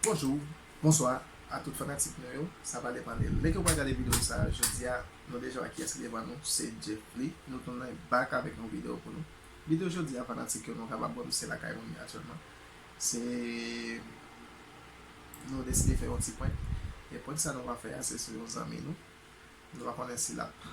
Bonjou, bonswa a tout fanatik nou yo, sa pale pale Lè ke w pral gade videyo sa a jodi a nou deja wè kiyès ki devan nou se Djeffly Nou tounen back avèk yon videyo pou nou Videyo jodi a fanatik yo nou kapab wè m se lakay mwen ye aktyèlman Se nou deside fè yon ti prank E prank sa nou va fè a se sou yon zanmi nou Nou pa konnen si l ap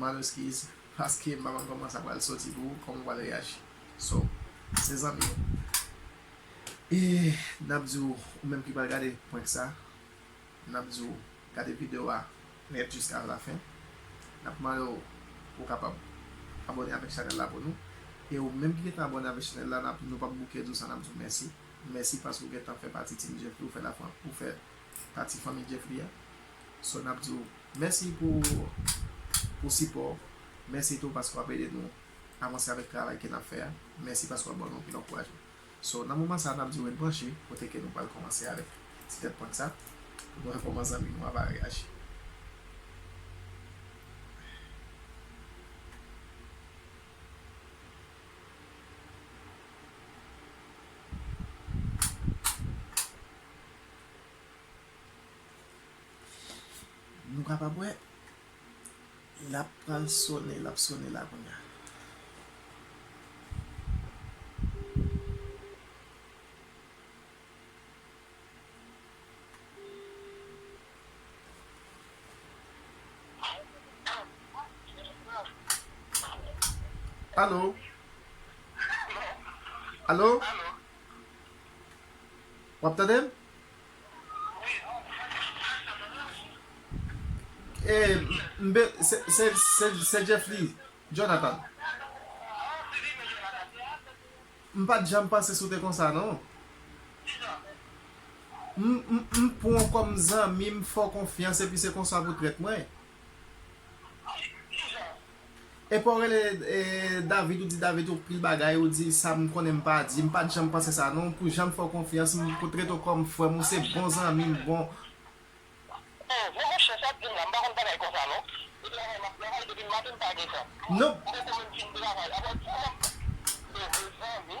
Mande eskiz paske m pa konn koman sa pral soti pou ou, koman w pral reyaji. So, se zanmi w. E n ap di w, ou menm ki pral gade prank sa, n ap di w gade video a nèt jiska la fen. N ap mande w pou w kapab abone avèk chanèl la pou nou. E ou menm ki gentan abone avèk chanèl la, n ap nou p ap bouke di w sa, n ap di w mèsi. Mèsi paske ou gentan fè pati Team Djeffy, ou fè la fran, ou fè pati fanmi Jeffrey a so nap diw mèsi pou pou sipò w mèsi tou paske wap ede nou avanse avèk travay ke nap fè a mèsi paske wap ban nou anpil ankourajman so nan moman sa nap diw ret branche kote ke nou pral kòmanse avèk ti tèt prank sa pou nou wè kòman zanmi nou a va reyaji. Nou kapab wè lap pral sone lap sone la kounya. Alo Alo Alo Wap tande m? Wi non mwen tande w byen sa nan rans ou. Ee m be se Jeffly Jonathan. Ah ou se Jeffly Jonathan. M pat janm panse sou te konsa non. Kijan? M pwan w kòm zanmi m fè w konfyans epi se konsa pou trèt mwen. Epaw rele David ou di David ou pil bagay ou di sam konnen mpa di mpat janm panse sa non pou janm fèw konfyans m pou tret ou kòm frèm ou se bon zanmim bon Non monchè sat dim la mpa konn bagay konsa non se travay map travay depim maten mpa gen tan m poko menm fin travay aprè dim lèm devwe zanmi.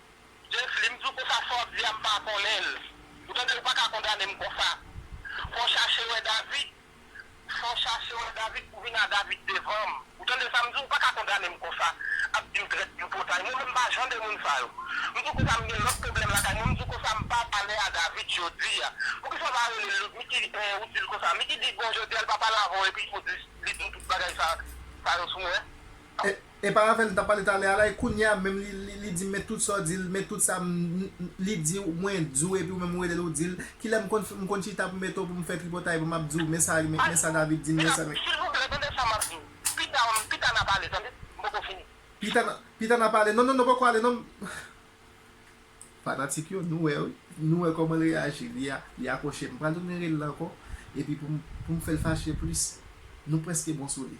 Jeflim di w konsa sa w ap di a m pa konnen l ou tande ou pa ka kondane m konsa fò w chache wè David fò w chache wè David pou w vin a David devan m ou tande sa m di w ou pa ka kondane m konsa ap di m trèt tripotay mwen menm m pa jan de moun sa yo m di w konsa m gen lòt pwoblèm lakay mwen m di w konsa m pa pale a David jodi a poukisa w pa rele l Miki ou di l konsa Miki di bon jodi a l pa pale avè w epi ou di li di w tout bagay sa yo sou mwen. Epa avèl m tap pale talè a la e kounya menm li dim men tout sa w dil men tout sa m li diw mwen diw epi ou menm ou relel ou dil kilè m konn m konn chita pou metew pou m fè tripotay pou map diw men sa men sa David dim men sa men Silvouplè tande sa map diw pita pita nap ale tande m poko fini. Pita pita nap ale non non non poko ale non m fanatik yo nou wè wi nou wè kòman l reyaji li akwoche m pral tounen rele l ankò epi pou m pou m fèl fache plis nou prèske bon sou li.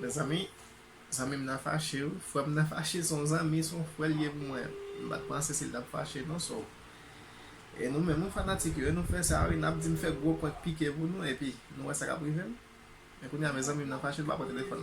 Mezanmi, zanmi m nan fache wi, frè m nan fache, se yon zanmi, se yon frè l ye pou mwen, m pa t panse se l t ap fache non, so e nou menm wi fanatik yo, e nou fè sa wi, n ap di m fè gwo prank pike pou nou, epi nou wè sa k ap rive m, men kounya mezanmi m nan fache, l pa pran telefòn.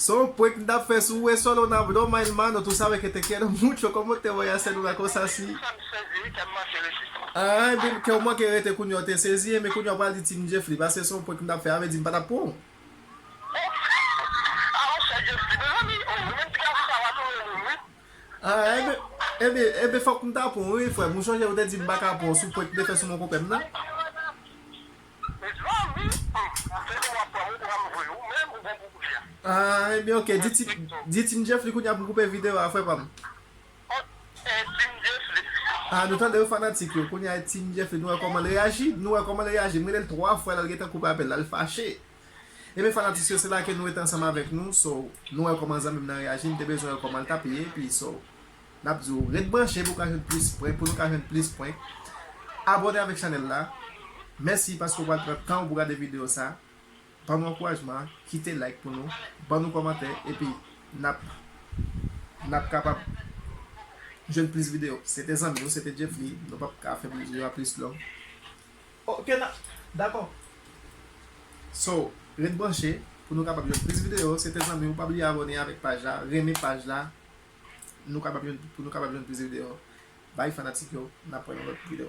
Son w prank m tap fè sou ou e solo nan blo my hermano tu sabe que te quiero mucho como te voy a hacer una cosa si Ahh ebyn kèw manke rete kounya w te sezi ebyn kounya w pral di team Djeffly paske son w prank m tap fè a vle di m pa tap pran w. Ahh ebyn ebyn ebyn fòk m ta pran w wi frè m ou sonje ou te di m paka pran w sou prank m te fè sou mon konpè m nan. Mezanmi humm se koman wap pranm ou pranm vre ou menm ou bon pou koulye a. Ahh ebyen ok di team Jeffly kounya pou koupe video a frè pam. Ok team Jeffly. Ahh nou tandew fanatik yo kounya e team Jeffly nou wè komanl reyaji nou wè komanl reyaji m relel 3 fwa lal gentan koupe apèl la l fache ebyen fanatik yo se la ke nou rete ansanm avèk nou so nou wè koman zanmim nan reyaji m te bezwen wè komanl tap ye epi so. Nap di w ret branche pou w ka jwenn plis pwen, pou nou ka jwenn plis pwen. Abone avèk chanèl la. Mèsi paske w pral pran tan w pou gade videyo sa. Ban nou ankourajman, kite like pou nou, ban nou kòmantè epi nap nap kapab jwenn plis videyo. Se te zanmi w, se te Djeffly, nou pap ka fè videyo a plis long. Ok nan, dakò. So, ret branche pou nou kapab jwenn plis videyo. Se te zanmi w, pa bliye abone avèk paj la, renmen paj la, Nou kapab jwenn pou nou kapab jwenn plis video bay fanatik yo nap pran yon lot video.